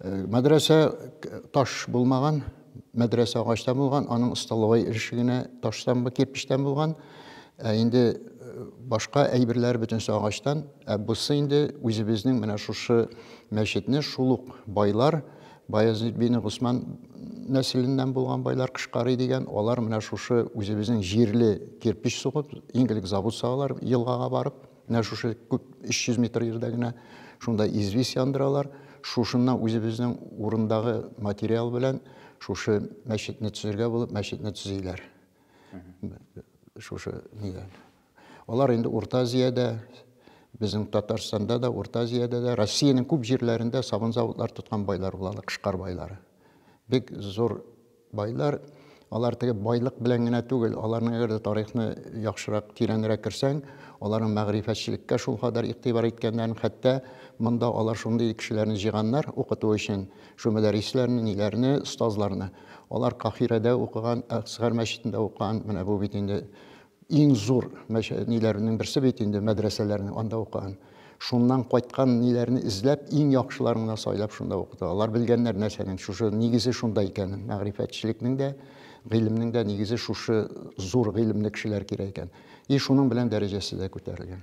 Э, мәдрәсә таш булмаган, мәдрәсә агачтан булган, аның столовой эше генә таштан, кирпичтән булган. Ә инде э, башка әйберләр бөтенесе агачтан. Ә бусы инде үзебезнең менә шушы мәчетне шул ук байлар, Баязит бин Госман нәселеннән булган байлар Кышкарый дигән, алар менә шушы үзебезнең җирле кирпич сугып, иң элек завод салалар елгага барып. Менә шушы күп 300 метр ерда генә шунда известь яндыралар. Шушыннан үзебезнең урындагы материал белән шушы мәчетне төзергә булып мәчетне төзиләр. Шушы нидән. Алар инде Урта Азиядә, безнең Татарстанда да, Урта Азиядә дә, Россиянең күп җирләрендә сабын заводлар тоткан байлар булалар, кышкар байлары. Бик зур Байлар, алар теге байлык белән генә түгел, аларның әгәр дә тарихны яхшырак, тирәнрәк керсәң, аларның мәгърифәтчелеккә шулкадәр игътибар иткәннәрен, хәтта монда алар шундый кешеләрне җыйганнар укыту өчен, шул мөдәррисләрне, ниләрне, остазларны. Алар Каһирәдә укыган, Әксгар мәчетендә укыган, менә бу бит инде Иң зур мәчә ниләренең берсе бит инде мәдрәсәләрнең анда укыган. Шуннан кайткан ниләрне эзләп, иң яхшыларын гына сайлап шунда укыта. Алар белгәннәр нәрсәнең шушы нигезе шунда икәнен, мәгърифәтчелекнең дә, гыйлемнең дә нигезе шушы зур гыйлемле кешеләр кирәк икән. И шуның белән дәрәҗәсе дә күтәрелгән.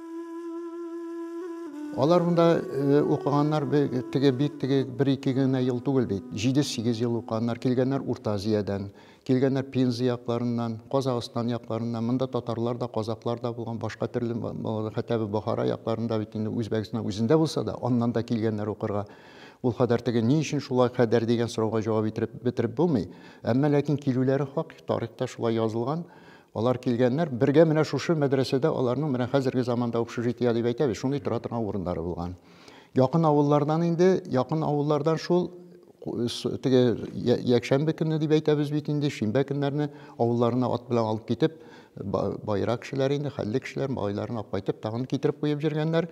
Алар монда э, укыганнар теге бик теге бер-ике генә ел түгел бит. Җиде-сигез ел укыганнар. Килгәннәр Урта Азиядән, килгәннәр Пенза якларыннан, Казахстан якларыннан. Монда татарлар да, казаклар да булган, башка төрле хәтта Бохара якларында бит инде Үзбәкстан үзендә булса да, аннан да килгәннәр укырга. Ул кадәр теге ни өчен шулай кадәр дигән сорауга җавап итеп бетереп булмый. Әмма ләкин килүләре хак, тарихта шулай язылган. Алар килгәннәр, бергә менә шушы мәдрәсәдә аларның менә хәзерге заманда общежитие дип әйтәбез, шундый тора торган урыннары булган. Якын авыллардан инде, якын авыллардан шул теге якшәмбе көнне дип әйтәбез бит инде, шимбә көннәрне авылларына ат белән алып китеп, байрак кешеләр инде, хәлле кешеләр малайларын алып кайтып, тагын китереп куеп җиргәннәр.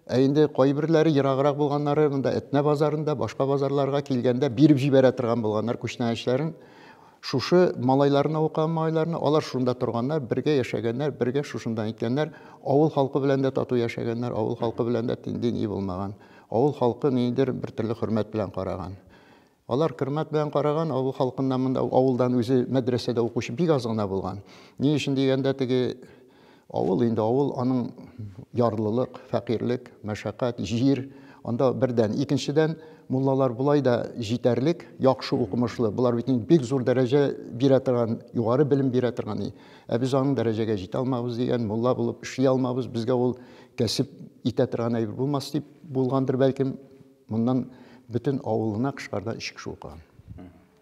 Ә инде кайберләре ераграк булганнары, монда Әтнә базарында, башка базарларга килгәндә биреп җибәрә торган булганнар күчтәнәчләрен. Шушы малайларны укыган малайларны, алар шунда торганнар, бергә яшәгәннәр, бергә шушында иткәннәр, авыл халкы белән дә тату яшәгәннәр, авыл халкы белән дә тиндей ни булмаган. Авыл халкы ниндидер бер төрле хөрмәт белән караган. Алар хөрмәт белән караган, авыл халкыннан монда авылдан үзе мәдрәсәдә укучы бик аз гына булган. Ни өчен дигәндә, теге Авыл инде авыл, аның ярлылык, фәкыйрьлек, мәшәкать, җир, анда бердән. Икенчедән, муллалар болай да җитәрлек, яхшы укымышлы. Болар бит инде бик зур дәрәҗә бирә торган, югары белем бирә торган. Ә без аның дәрәҗәгә җитә алмабыз дигән, мулла булып эшли алмабыз, безгә ул кәсеп итә торган әйбер булмас дип булгандыр, бәлкем, моннан бөтен авылына кышкарда өч кеше укыган.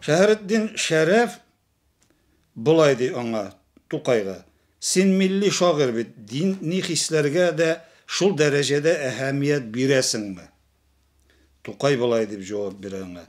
Шәһретдин Шәрәф болай ди аңа, Тукайга, Син милли шагыйрь бит, дини хисләргә дә шул дәрәҗәдә әһәмият бирәсеңме? Тукай болай дип җавап бирә аңа,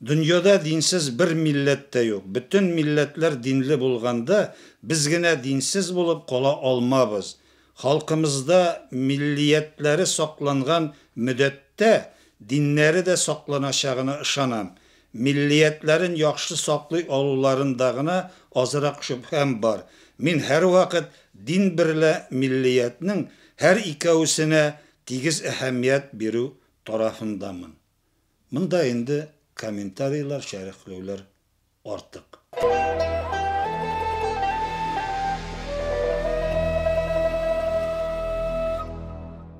Дөньяда динсез бер милләт тә юк. Бөтен милләтләр динле булганда, без генә динсез булып кала алмабыз. Халкымызда миллиятләре сакланган мөдәттә, диннәре дә сакланачагына ышанам. Миллиятләрен яхшы саклый алуларында гына азрак шөбһәм бар. Мин һәрвакыт дин берлә миллиятнең һәр икәүсенә тигез әһәмият бирү тарафындамын. Монда инде комментарийлар, шәрехләүләр артык.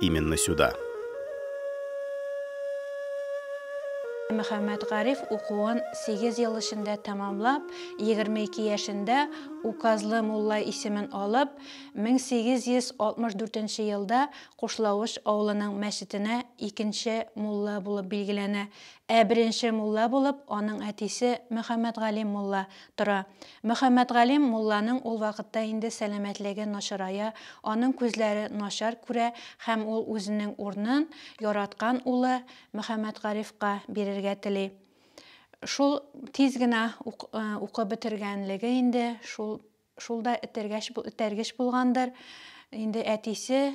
именно сюда. Мөхәммәтгариф укуын сигез ел эчендә тәмамлап, егерме ике яшендә Указлы мулла исемен алып, мең сигез йөз алтмыш дүртенче елда Кушлавыч авылының мәчетенә икенче мулла булып билгеләнә, ә беренче мулла булып аның әтисе Мөхәммәтгалим мулла тора. Мөхәммәтгалим мулланың ул вакытта инде сәламәтлеге начарая, аның күзләре начар күрә һәм ул үзенең урынын яраткан улы Мөхәммәтгарифка бирергә тели. Шул тиз генә укып бетергәнлеге инде шул шул да этәргәч, этәргеч булгандыр. Инде әтисе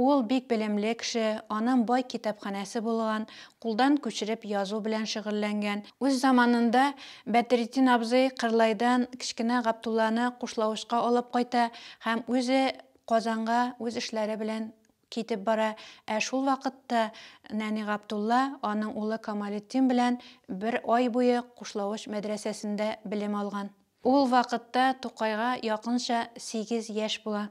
Ул бик белемле кеше, анын бай китапханәсе булган, кулдан күчереп язу белән шөгыльләнгән. Үз заманында Бәдретдин абзый Кырлайдан кечкенә Гаптулланы Кушлавычка алып кайта һәм үзе Казанга үз эшләре белән китеп бара, ә шул вакытта нәни Гаптулла аның улы Камалетдин белән бер ай буе Кушлавыч мәдрәсәсендә белем алган. Ул вакытта Тукайга якынча сигез яшь була.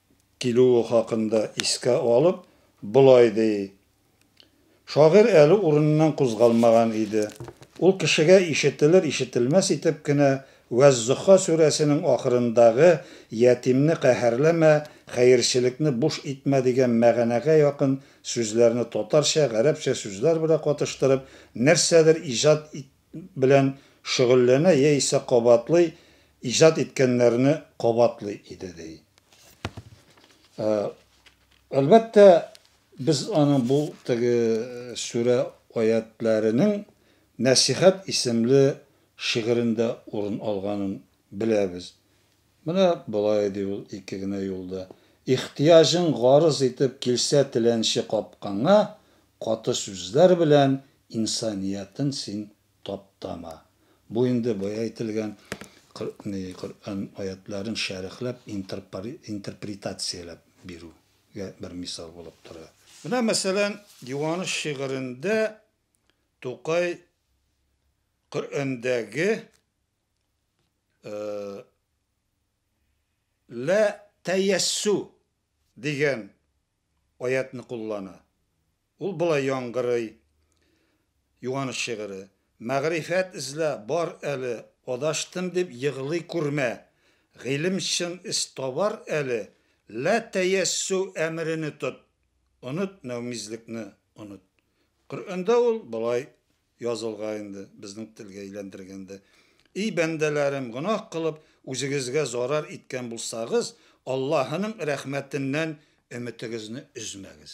килүе хакында искә алып, болай ди, Шагыйрь әле урыныннан кузгалмаган иде. Ул кешегә ишетелер-ишетелмәс итеп кенә Вәз-Зөһха сүрәсенең ахырындагы Ятимне каһәрләмә, хәерчелекне буш итмә дигән мәгънәгә якын сүзләрне татарча, гарәпчә сүзләр белән катыштырып, нәрсәдер иҗат итте. белән шөгыльләнә яисә кабатлый, иҗат иткәннәрне кабатлый иде, ди. Әлбәттә, без аның бу теге сүрә аятьләренең Нәсыйхәт исемле шигырендә урын алганын беләбез. Менә болай ди ул ике генә юлда, Ихтыяҗың гарыз итеп килсә теләнче капкаңа, Каты сүзләр белән инсаниятен син таптама. Бу инде бая әйтелгән Коръән аятьләрен шәрехләп, интерпретацияләп бирүгә бер мисал булып тора. Менә мәсәлән, Юаныч шигырендә Тукай Коръәндәге Лә тәяссү дигән аятьне куллана. Ул болай яңгырый, Юаныч шигыре. Мәгърифәт эзлә, бар әле, Адаштым дип егълый күрмә. Гыйлем чын эз табар әле, Лә тәяссү әмерене тот, Оныт нәүмизлекне, оныт. Коръәндә ул болай язылга инде, безнең телгә әйләндергәндә, И бәндәләрем, гөнаһ кылып, үзегезгә зарар иткән булсагыз, Аллаһының рәхмәтеннән өметегезне өзмәгез.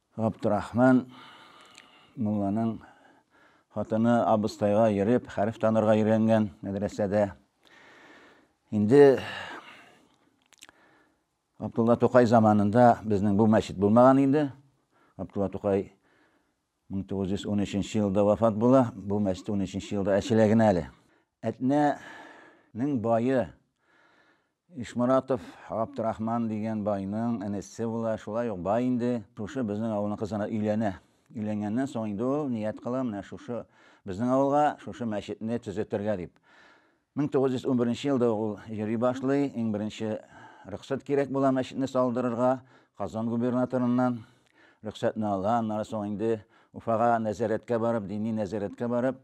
Габдрахман мулланың хатыны абыстайга йөреп, хәреф танырга өйрәнгән мәдрәсәдә. Инде Абдулла Тукай заманында безнең бу мәчет булмаган инде. Абдулла Тукай 1913 елда вафат була, бу мәчет 13 елда ачыла генә әле. Әтнәнең бае Ишморатов Габдрахман дигән байның энесе була, шулай ук бай инде, шушы безнең авылның кызына өйләнә. Өйләнгәннән соң инде ул ният кыла, менә шушы безнең авылга шушы мәчетне төзетергә дип. 1911 нче елда ук ул йөри башлый, иң беренче рөхсәт кирәк була мәчетне салдырырга, Казан губернаторыннан рөхсәтне ала, аннары соң инде Уфага нәзарәткә барып, дини нәзарәткә барып,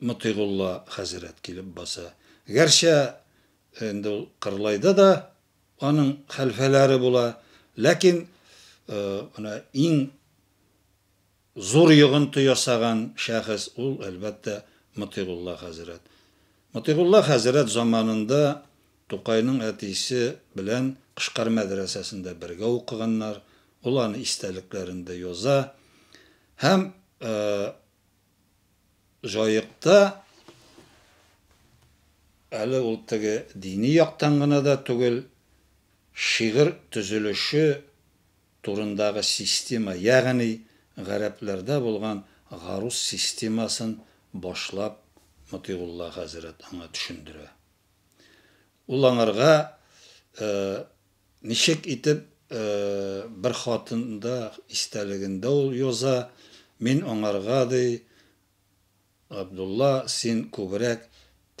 Мотыйгулла хәзрәт килеп баса. Гәрчә инде ул Кырлайда да аның хәлфәләре була, ләкин менә иң зур йогынты ясаган шәхес ул, әлбәттә, Мотыйгулла хәзрәт. Мотыйгулла хәзрәт заманында Тукайның әтисе белән Кышкар мәдрәсәсендә бергә укыганнар, ул аны истәлекләрендә яза. Һәм Җаекта әле ул теге дини яктан гына да түгел, шигырь төзелеше турындагы система, ягъни гарәпләрдә булган гарус системасын башлап Мотыйгулла хәзрәт аңа төшендерә. Ул аңарга Ничек итеп бер хатында истәлегендә ул яза, Мин аңарга, ди, Габдулла, син күбрәк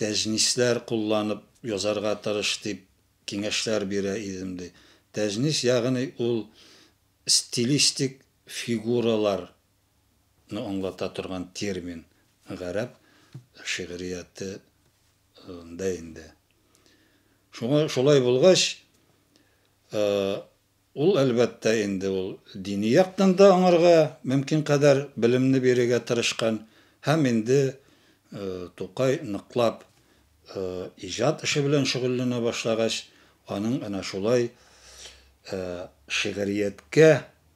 тәҗнисләр кулланып язарга тырыш, дип киңәшләр бирә идем, ди. Тәҗнис, ягъни ул стилистик фигуралар ны аңлата торган термин гарәп шигърияте дә инде. Шуңа шулай булгач, ул, әлбәттә, инде ул дини яктан да аңарга мөмкин кадәр белемне бирергә тырышкан һәм инде Тукай ныклап иҗат эше белән шөгыльләнә башлагач, аның әнә шулай шигърияткә